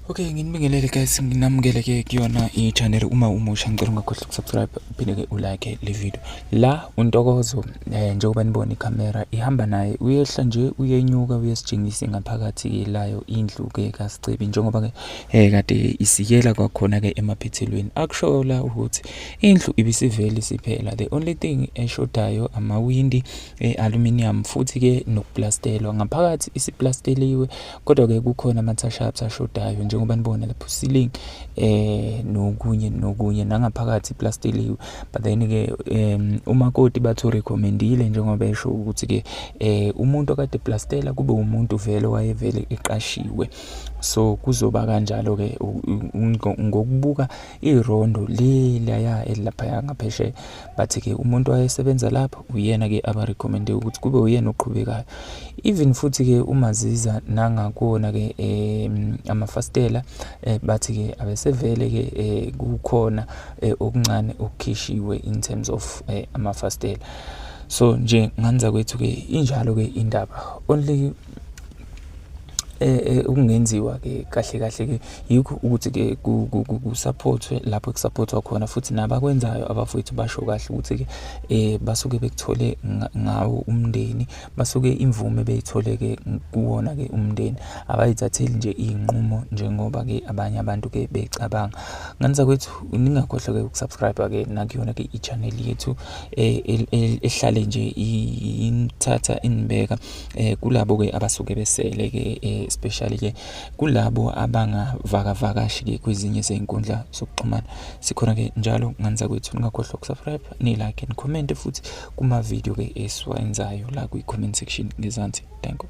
Okay, nginibingelele guys, nginamukele ke kuyona i-channel uma umusha ngicela ungakhohlwa ukusubscribe uphinde ke ulike le video. La uNtokozo eh, njengoba nibona iCamera ihamba naye uyehla nje uyenyuka uyesijingisa ngaphakathi layo indlu ke kaSicebi njengoba ke eh kade isikela kwakhona ke emaphethelweni. Akusho la ukuthi indlu ibisiveli siphela. The only thing eshodayo amawindi e-aluminium futhi-ke nokuplastelwa ngaphakathi isiplasteliwe kodwa-ke kukhona ama-touch-ups ashodayo njengoba nibona lapho ceiling eh nokunye nokunye nangaphakathi iplasteliwe but then-ke um umakoti bathu recommendile njengoba esho ukuthi-ke eh umuntu okade plastela kube umuntu vele wayevele eqashiwe so kuzoba kanjalo-ke ngokubuka irondo lelaya elilaphaya ngaphesheya bathi-ke umuntu wayesebenza lapho uyena-ke abarekhomende ukuthi kube uyena oqhubekayo even futhi-ke uma ziza nangakuwona-ke um amafasitela um bathi-ke abesevele-ke um kukhona um okuncane okukhishiwe in terms of um amafasitela so nje nganza kwethu-ke injalo-ke indaba only eh, eh ukungenziwa ke kahle kahle ke yikho ukuthi ke kusupportwe lapho kusupportwa khona futhi nabakwenzayo abafowethu basho kahle ukuthi ke eh basuke bekuthole ngawo umndeni basuke imvume beyithole ke kuwona ke umndeni abayithatheli nje inqumo njengoba ke abanye abantu ke becabanga nganisa kwethu ningakhohlwa ke ukusubscribe ke nakuyona ke i-channel yethu eh, ehlale nje ithatha inibeka eh kulabo ke abasuke besele ke eh, especially ke kulabo abangavakavakashi ke kwezinye zezinkundla zokuxhumana sikhona ke njalo nganza kwethu ningakhohlwa ukusubscribe ni like and comment futhi kuma video ke esiwenzayo la kwi comment section ngezansi thank you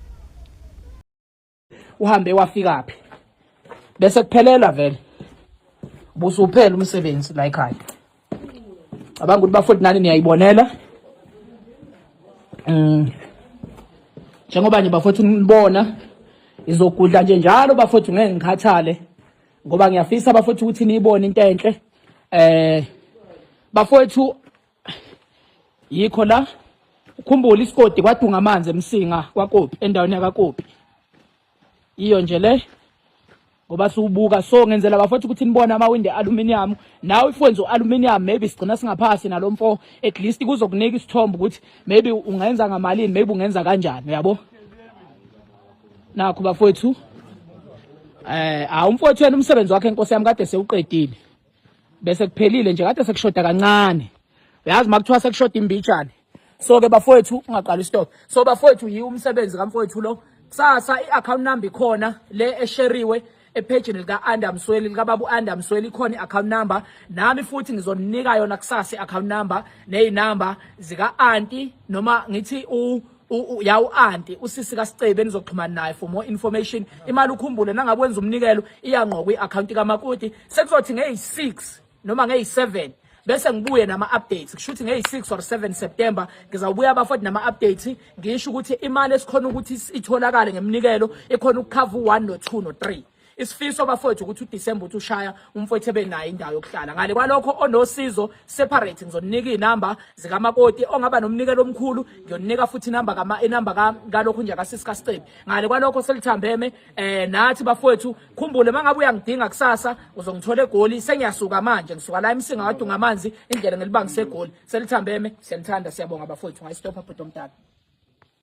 uhambe wafikaphi bese kuphelela vele busuphela umsebenzi la ekhaya cabanga ukuthi bafoti nani niyayibonela mm njengoba nje bafoti nibona izogudla nje njalo bafoti ngeke ngikhathale ngoba ngiyafisa bafoti ukuthi niyibone into enhle eh bafowethu yikho la ukhumbula isigodi kwadunga amanzi emsinga kwakopi endaweni yakakopi iyo nje le ngoba siwubuka so ngenzela bafowethu ukuthi nibone amawindi aluminium nawe if wenza ualuminium maybe sigcina singaphasi nalo mfo at least kuzokunika isithombo ukuthi maybe ungenza ngamalini maybe ungenza kanjani uyabo nakho bafowethu eh awumfowethu wena umsebenzi wakhe inkosi yami kade sewuqedile bese kuphelile nje kade sekushoda kancane uyazi makuthiwa sekushoda imbijane so ke bafowethu ungaqali stop so bafowethu yi umsebenzi kamfowethu lo kusasa i-account number ikhona le esheriwe ephejini lika-anda msweli likababa u-anda msweli ikhona i-account number nami futhi ngizoninika yona kusasa i-account number ney'number zika-anti noma ngithi yawu anti usisi kaSicebe nizoxhumana naye for more information imali ukhumbule nangabe wenza umnikelo iyangqokwa i-akhawunti kamakoti sekuzothi ngeyi-6 noma ngeyi-7 bese ngibuye nama-updates kusho ukuthi ngeyi-6 or 7 september ngizawubuya bafoti nama-updates ngisho ukuthi imali esikhona ukuthi itholakale ngemnikelo ikhona ukukhava u-one no-two no-three isifiso bafowethu ukuthi uDecember uthi ushaya umfowethu ebe naye indawo yokuhlala ngale kwalokho onosizo separate ngizoninika izinamba zikamakoti ongaba nomnikelo omkhulu ngiyoninika futhi inamba kama inamba kalokho nje kasisi kaSicebi ngale kwalokho selithambeme eh nathi bafowethu khumbule mangabe uyangidinga kusasa uzongithola egoli sengiyasuka manje ngisuka la emsinga wadunga amanzi indlela ngelibangise egoli selithambeme siyanithanda siyabonga bafowethu ngayistopha bhuti omdala